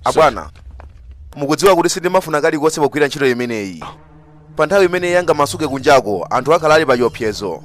abwana mukudziwa kuti sindimafuna kalikonse pogwira ntchito imeneyi pa nthawi imeneyi angamasuke kunjako anthu akhala ali pa chiopsezo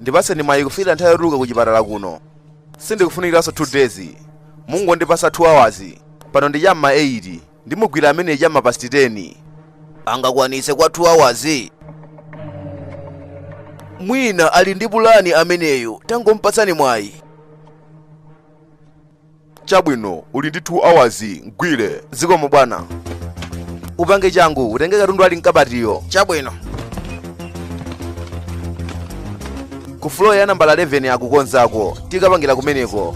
ndipatseni mwayi kufikira nthawi yotuluka ku chipatala kuno sindikufunikiranso 2 days mungondipatsa 2 hours pano ndi chamma 8 ndimugwira ameneyi chamma past 10 angakwanitse kwa 2 hours mwina ali ndi pulani ameneyo tangomupatsani mwayi Chabwino, uli ndi 2 hours. Mgwire. Zikomo bwana. Upange changu, utenge katundu ali mkabatiyo. Chabwino. Ku floor ya nambala 11 akukonzako. Tikapangira kumeneko.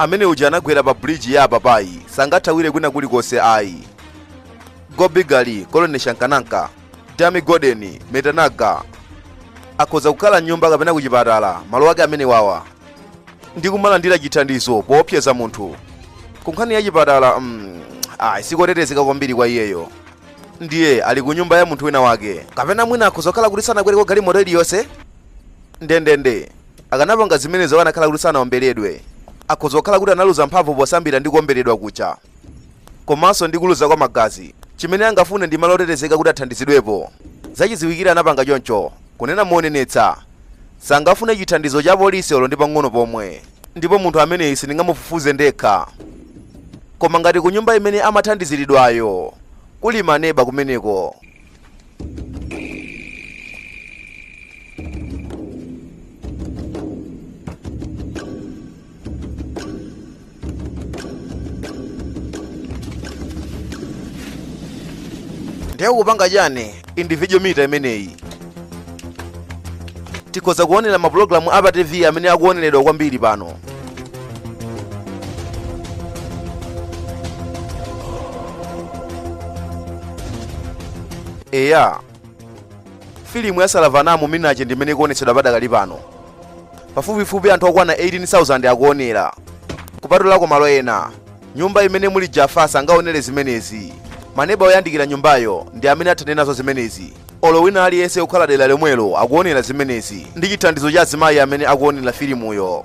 amene uja anagwera pa bridge ya apapayi sangathawire kwina kulikonse ayi gobigali kolone shankananka dami godeni metanaga akhoza kukhala mnyumba kapena kuchipatala malo ake amene wawa ndi kumalandira chithandizo poopsyeza munthu ku nkhani ya chipatala mm, ayi sikotetezeka kwambiri kwa iyeyo ndiye ali ku nyumba ya munthu wina wake kapena mwina akhoza kukhala kuti sanakwereko galimoto iliyonse ndendende akanapanga zimenezo akanakhala kuti sanaomberedwe akhoza kukhala kuti analuza mphamvu posambira ndi kuomberedwa kuja komanso ndi kuluza kwa magazi chimene angafune ndi malo otetezeka kuti athandizidwepo zachidziwikire anapanga choncho kunena monenetsa sangafune chithandizo cha polisi olo ndi pang'ono pomwe ndipo munthu ameneyi sindingamufufuze ndekha koma ngati ku nyumba imene amathandiziridwayo kuli maneba kumeneko ndiye kupanga chani individual meter imeneyi tikhoza kuonera mapulogalamu a pa tv amene akuoneredwa kwambiri pano eya filimu ya salavanamu minache ndi imene ikuonetsedwa padakali pano pafupifupi anthu okwana 18,000 akuonera kupatulako malo ena nyumba imene muli jafa sangaonere zimenezi maneba oyandikira nyumbayo ndi amene athane nazo zimenezi olo wina aliyense okhala dera lomwelo akuonera zimenezi ndi chithandizo cha azimayi amene akuonera filimuyo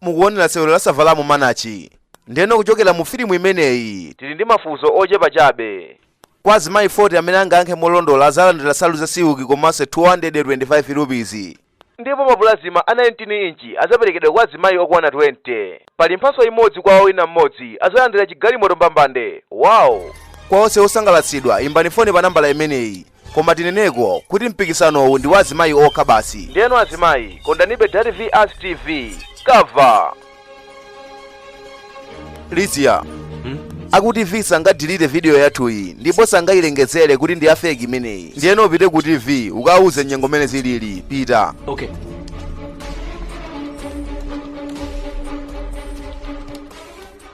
mukuonera sewero la Savalamu Manachi. Ndiyeno kuchokera mu filimu imeneyi, tili ndi mafunso ochepa chabe. Kwa azimayi 40 amene angayankhe molondola adzalandira nsalu za silki komanso 225 rupees. Ndipo mapulazima a 19 inchi adzaperekedwa kwa azimayi okwana 20. Pali mphatso imodzi kwa owina mmodzi, adzalandira chigalimoto mbambande! Wow! Kwa onse osangalatsidwa, imbani foni pa nambala imeneyi. Koma tineneko kuti mpikisanowu ndi wa azimayi okha basi. Ndeno azimayi kondanibe Dairy V Ask TV cover. Lizia aku TV sangadilite video yathuyi ndipo sangayilengezere kuti ndi ya fake imeneyi. Ndiyeno upite ku TV ukawuze nyengo mene zilili pita. Okay.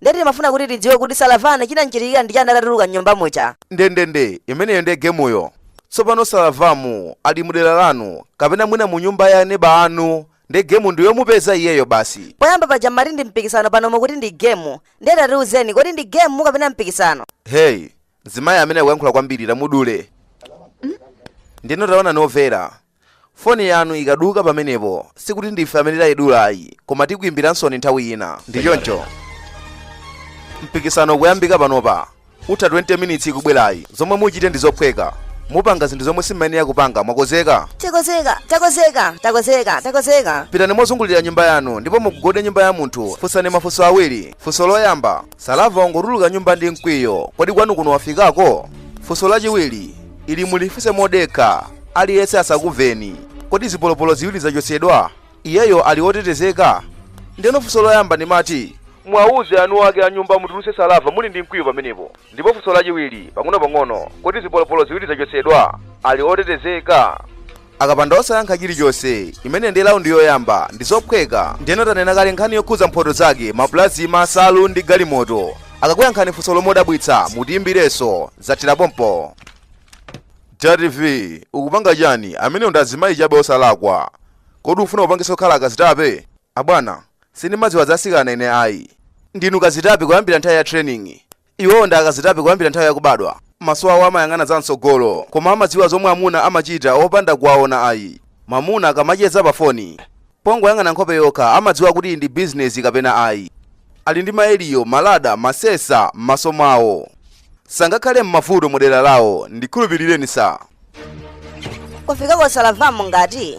Ndiye timafuna kuti tidziwe kuti Saravamu chinamchitikira ndi chani atatuluka m'nyumba muja. Ndendende, imeneyo ndiye gemuyo. Tsopano Saravamu ali mu dera lanu kapena mwina mu nyumba ya aneba anu ndiye gemu ndi yomupeza iyeyo basi. Poyamba paja m'mati ndi mpikisano pano mukuti ndi gemu, ndiye tatiuzeni kodi ndi gemu kapena mpikisano? Hey, mzimayi amene akuyankhula kwambiri tamudule. Ndiyeno taonani Vera, Foni yanu ikaduka pamenepo, sikuti ndife amene tayidula ayi, koma tikuimbiransoni nthawi ina. Ndi choncho? Mpikisano ukuyambika panopa. Utha 20 minitsi ikubwerayi. Zomwe muchite ndi zophweka. Mupanga zinthu zomwe simumayenera kupanga. Mwakonzeka? Takonzeka, takonzeka, takonzeka, takonzeka. Pitani mozungulira nyumba yanu ndipo mukagogode nyumba ya munthu. Funsani mafunso awiri. Funso loyamba, Salava wangotuluka nyumba ndi mkwiyo. Kodi kwanu kuno wafikako? Funso lachiwiri ili mulifunse modekha, aliyense asakumveni. Kodi zipolopolo ziwiri zachotsedwa? Iyeyo ali wotetezeka? Ndeno funso loyamba mmati, muwauze eni ake a nyumba amutulutse Salava muli ndi mkwiyo pamenepo. Ndipo funso lachiwiri, pang'onopang'ono, kodi zipolopolo ziwiri zachotsedwa? Ali otetezeka? akapanda osayankha chilichonse imeneyi ndi laundi yoyamba ndi zophweka ndiyeno tanena kale nkhani yokhudza mphoto zake mapulazima nsalu ndi galimoto akakuyankhani funso lomwe lodabwitsa mutiyimbirenso zathera pompo tv ukupanga chani amenewo ndi azimayi chabe osalakwa kodi ufuna kupangitsa kukhala akazitape abwana sindimadziwa zasikana ine ayi ndinu kazitape kuyambira nthawi ya training Iwowo ndi akazitape kuyambira nthawi yakubadwa. Maso awo amayang'ana za mtsogolo koma amadziwa zomwe amuna amachita opanda kuwaona ayi. Mwamuna akamacheza pa foni, pongoyang'ana nkhope yokha amadziwa kuti iyi ndi bizinezi kapena ayi. Ali ndi ma eliyo, ma lada, ma sensa m'maso mwawo. Sangakhale m'mavuto mu dera lawo, ndikhulupirireni sir. Kufika kwa Salavamu ngati?